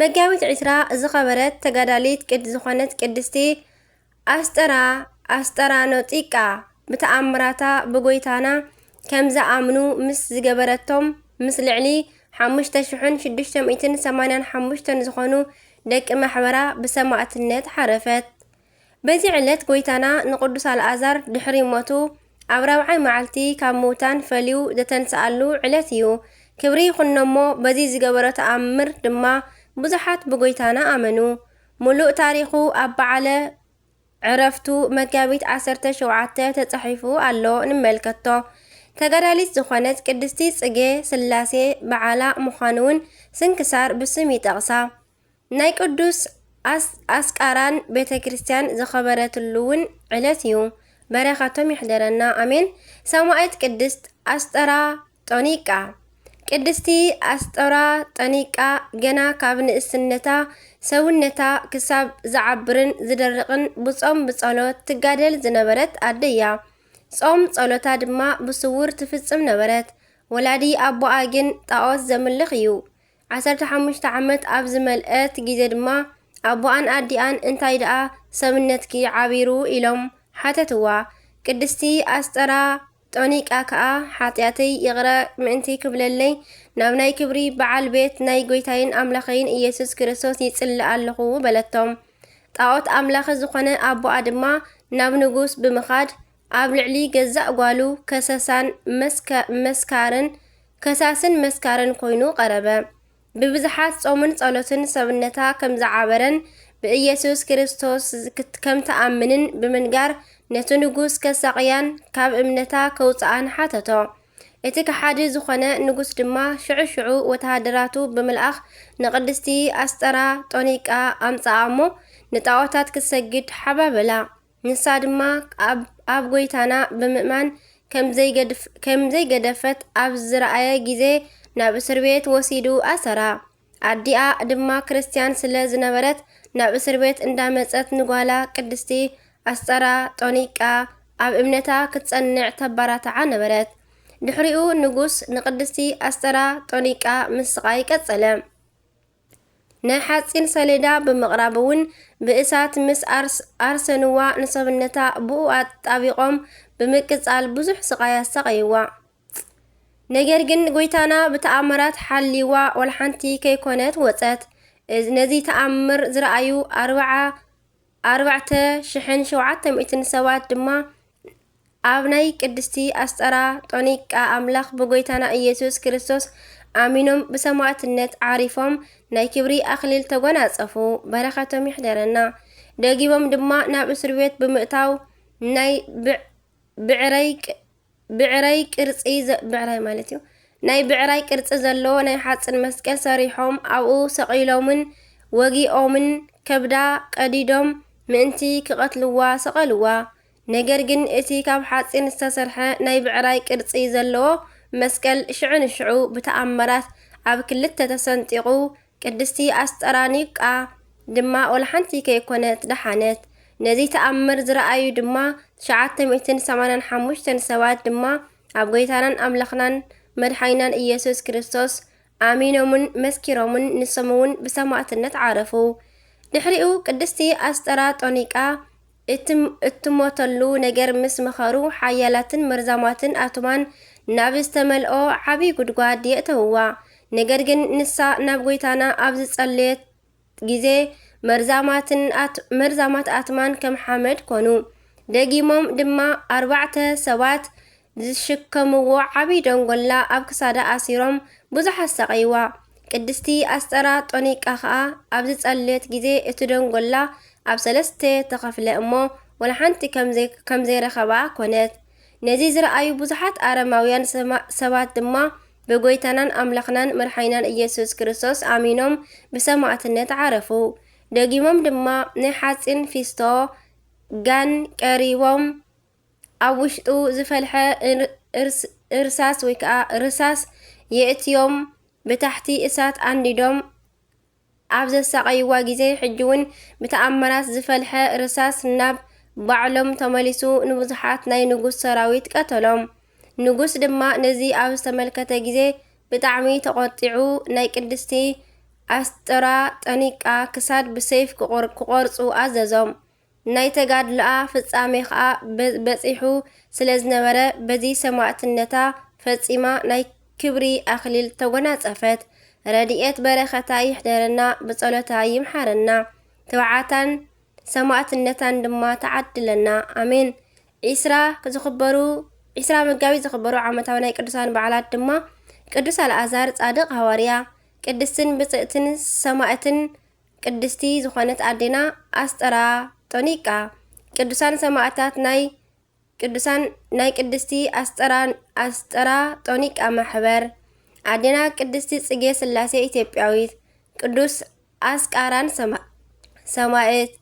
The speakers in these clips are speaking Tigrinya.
መጋቢት ዕስራ ዝኸበረት ተጋዳሊት ቅድ ዝኾነት ቅድስቲ ኣስጠራ ኣስጠራኖጢቃ ብተኣምራታ ብጎይታና ከምዝኣምኑ ምስ ዝገበረቶም ምስ ልዕሊ ሓሙሽተ ሽሕን ሽዱሽተ ሚእትን ሰማንያን ሓሙሽተን ዝኾኑ ደቂ ማሕበራ ብሰማእትነት ሓረፈት። በዚ ዕለት ጎይታና ንቅዱስ ኣልኣዛር ድሕሪ ሞቱ ኣብ ራብዓይ መዓልቲ ካብ ምውታን ፈልዩ ዘተንስኣሉ ዕለት እዩ። ክብሪ ይኹኖ'ሞ በዚ ዝገበሮ ተኣምር ድማ ብዙሓት ብጎይታና ኣመኑ። ምሉእ ታሪኹ ኣብ በዓለ ዕረፍቱ መጋቢት ዓሰርተ ሸውዓተ ተጻሒፉ ኣሎ ንመልከቶ። ተጋዳሊት ዝኾነት ቅድስቲ ጽጌ ስላሴ በዓላ ምዃኑ'ውን ስንክሳር ብስም ይጠቕሳ። ናይ ቅዱስ ኣስቃራን ቤተ ክርስቲያን ዝከበረትሉ ውን ዕለት እዩ በረከቶም ይሕደረና ኣሜን ሰማኢት ቅድስት ኣስጠራ ጦኒቃ ቅድስቲ ኣስጦራ ጠኒቃ ገና ካብ ንእስነታ ሰውነታ ክሳብ ዝዓብርን ዝደርቕን ብጾም ብጸሎት ትጋደል ዝነበረት ኣደ እያ። ጾም ጸሎታ ድማ ብስውር ትፍጽም ነበረት። ወላዲ ኣቦኣ ግን ጣዖት ዘምልኽ እዩ። ዓሰርተ ሓሙሽተ ዓመት ኣብ ዝመልኣት ግዜ ድማ ኣቦኣን ኣዲኣን እንታይ ደኣ ሰብነትኪ ዓቢሩ ኢሎም ሓተትዋ። ቅድስቲ ኣስጠራ ጦኒቃ ከኣ ሓጢኣተይ ይቕረ ምእንቲ ክብለለይ ናብ ናይ ክብሪ በዓል ቤት ናይ ጐይታይን ኣምላኸይን ኢየሱስ ክርስቶስ ይጽሊ ኣለኹ በለቶም። ጣዖት ኣምላኺ ዝኾነ ኣቦኣ ድማ ናብ ንጉስ ብምኻድ ኣብ ልዕሊ ገዛእ ጓሉ ከሰሳን መስካርን ከሳስን መስካርን ኮይኑ ቀረበ። ብብዝሓት ጾምን ጸሎትን ሰብነታ ከም ዝዓበረን ብኢየሱስ ክርስቶስ ከም ትኣምንን ብምንጋር ነቲ ንጉስ ከሳቕያን ካብ እምነታ ከውጽኣን ሓተቶ። እቲ ከሓዲ ዝኾነ ንጉስ ድማ ሽዑ ሽዑ ወተሃደራቱ ብምልኣኽ ንቅድስቲ ኣስጠራ ጦኒቃ ኣምጽኣ እሞ ንጣዖታት ክትሰግድ ሓባበላ። ንሳ ድማ ኣብ ጐይታና ብምእማን ከም ዘይገደፈት ኣብ ዝረኣየ ግዜ ናብ እስርቤት ወሲዱ ኣሰራ። ኣዲኣ ድማ ክርስትያን ስለ ዝነበረት ናብ እስርቤት እንዳመጸት ንጓላ ቅድስቲ ኣስጠራ ጦኒቃ ኣብ እምነታ ክትጸንዕ ተባራትዓ ነበረት። ድሕሪኡ ንጉስ ንቅድስቲ ኣስጠራ ጦኒቃ ምስቓይ ቀጸለ። ናይ ሓጺን ሰሌዳ ብምቕራብ እውን ብእሳት ምስ ኣርሰንዋ ንሰብነታ ብኡ ኣጣቢቖም ብምቅጻል ብዙሕ ስቓይ ኣሳቐይዋ። ነገር ግን ጎይታና ብተኣምራት ሓልይዋ ወልሓንቲ ከይኮነት ወጸት። ነዚ ተኣምር ዝረኣዩ ኣርብዓ ኣርባዕተ ሽሕን ሸውዓተ ሚእትን ሰባት ድማ ኣብ ናይ ቅድስቲ ኣስጠራ ጦኒቃ ኣምላኽ ብጎይታና ኢየሱስ ክርስቶስ ኣሚኖም ብሰማዕትነት ዓሪፎም ናይ ክብሪ ኣኽሊል ተጎናጸፉ። በረኸቶም ይሕደረና። ደጊቦም ድማ ናብ እስርቤት ብምእታው ናይ ብዕረይ ብዕራይ ቅርጺ ብዕራይ ማለት እዩ ናይ ብዕራይ ቅርጺ ዘለዎ ናይ ሓጽን መስቀል ሰሪሖም ኣብኡ ሰቒሎምን ወጊኦምን ከብዳ ቀዲዶም ምእንቲ ክቐትልዋ ሰቐልዋ። ነገር ግን እቲ ካብ ሓጺን ዝተሰርሐ ናይ ብዕራይ ቅርጺ ዘለዎ መስቀል ሽዑ ንሽዑ ብተኣምራት ኣብ ክልተ ተሰንጢቑ ቅድስቲ ኣስጠራኒቃ ድማ ወላሓንቲ ከይኮነት ደሓነት። ነዚ ተኣምር ዝረኣዩ ድማ ትሽዓተ ሚእትን ሰማንያን ሓሙሽተን ሰባት ድማ ኣብ ጎይታናን ኣምላኽናን መድሓኒናን ኢየሱስ ክርስቶስ ኣሚኖምን መስኪሮምን ንሶምውን ብሰማእትነት ዓረፉ። ድሕሪኡ ቅድስቲ ኣስጠራጦኒቃ እቲ እትሞተሉ ነገር ምስ መኸሩ፣ ሓያላትን መርዛማትን ኣቱማን ናብ ዝተመልኦ ዓብዪ ጉድጓድ የእተውዋ። ነገር ግን ንሳ ናብ ጐይታና ኣብ ዝጸለየት ግዜ፣ መርዛማትን መርዛማት ኣትማን ከም ሓመድ ኰኑ። ደጊሞም ድማ ኣርባዕተ ሰባት ዝሽከምዎ ዓብዪ ደንጎላ ኣብ ክሳዳ ኣሲሮም ብዙሕ ኣሳቐይዋ። ቅድስቲ ኣስጠራ ጦኒቃ ኸኣ ኣብ ዝጸለየት ግዜ እቲ ደንጎላ ኣብ ሰለስተ ተኸፍለ እሞ ወላ ሓንቲ ከም ዘይረኸባ ኰነት። ነዚ ዝረኣዩ ብዙሓት ኣረማውያን ሰባት ድማ ብጐይታናን ኣምላኽናን መድሓኒናን ኢየሱስ ክርስቶስ ኣሚኖም ብሰማእትነት ዓረፉ። ደጊሞም ድማ ናይ ሓጺን ፊስቶ፣ ጋን፣ ቀሪቦም። ኣብ ውሽጡ ዝፈልሐ እርሳስ ወይ ከዓ ርሳስ የእትዮም ብታሕቲ እሳት ኣንዲዶም ኣብ ዘሳቐይዋ ግዜ ሕጂ እውን ብተኣምራት ዝፈልሐ ርሳስ ናብ ባዕሎም ተመሊሱ ንብዙሓት ናይ ንጉስ ሰራዊት ቀተሎም። ንጉስ ድማ ነዚ ኣብ ዝተመልከተ ግዜ ብጣዕሚ ተቖጢዑ ናይ ቅድስቲ ኣስጥራ ጠኒቃ ክሳድ ብሰይፍ ክቖርፁ ኣዘዞም። ናይ ተጋድሎኣ ፍጻሜ ከኣ በጺሑ ስለዝነበረ በዚ ሰማእትነታ ፈጺማ ናይ ክብሪ ኣክሊል ተጎናጸፈት። ረዲኤት በረከታ ይሕደረና ብጸሎታ ይምሓረና ትብዓታን ሰማእትነታን ድማ ትዓድለና ኣሜን። ዒስራ ዝኽበሩ ዒስራ መጋቢት ዝኽበሩ ዓመታዊ ናይ ቅዱሳን በዓላት ድማ ቅዱስ ኣልኣዛር ጻድቕ ሃዋርያ፣ ቅድስትን ብጽእትን ሰማእትን ቅድስቲ ዝኾነት ኣዴና ኣስጠራ ጦኒቃ ቅዱሳን ሰማእታት ናይ ቅዱሳን ናይ ቅድስቲ ኣስጠራ ኣስጠራ ጦኒቃ ማሕበር ኣዴና ቅድስቲ ጽጌ ስላሴ ኢትዮጵያዊት ቅዱስ ኣስቃራን ሰማ ሰማእት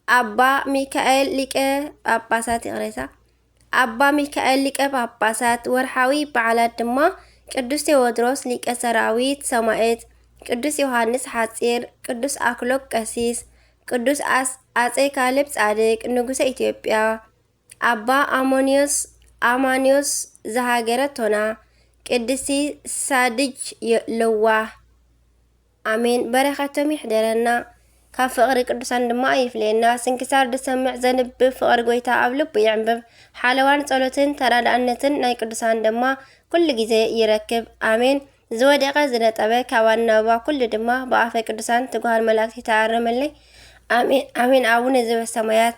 ኣባ ሚካኤል ሊቀ ጳጳሳት ይቕሬታ ኣባ ሚካኤል ሊቀ ጳጳሳት ወርሓዊ በዓላት ድማ ቅዱስ ቴዎድሮስ ሊቀ ሰራዊት ሰማኤት፣ ቅዱስ ዮሃንስ ሓጺር፣ ቅዱስ ኣክሎግ ቀሲስ፣ ቅዱስ ኣጼ ካልብ ጻድቅ ንጉሰ ኢትዮጵያ፣ ኣባ ኣሞንዮስ፣ ኣማንዮስ፣ ዘሃገረ ቶና ቅድስቲ ሳድጅ ለዋህ ኣሜን በረከቶም ይሕደረና ካብ ፍቅሪ ቅዱሳን ድማ ኣይፍለየና ስንክሳር ድሰምዕ ዘንብብ ፍቅሪ ጎይታ ኣብ ልቡ ይዕንብብ ሓለዋን ጸሎትን ተራዳእነትን ናይ ቅዱሳን ድማ ኩሉ ግዜ ይረክብ ኣሜን ዝወደቀ ዝነጠበ ካብ ኣናብባ ኩሉ ድማ ብኣፈ ቅዱሳን ትጉሃን መላእክቲ ተኣረመለይ ኣሜን ኣሜን ኣቡነ ዘበሰማያት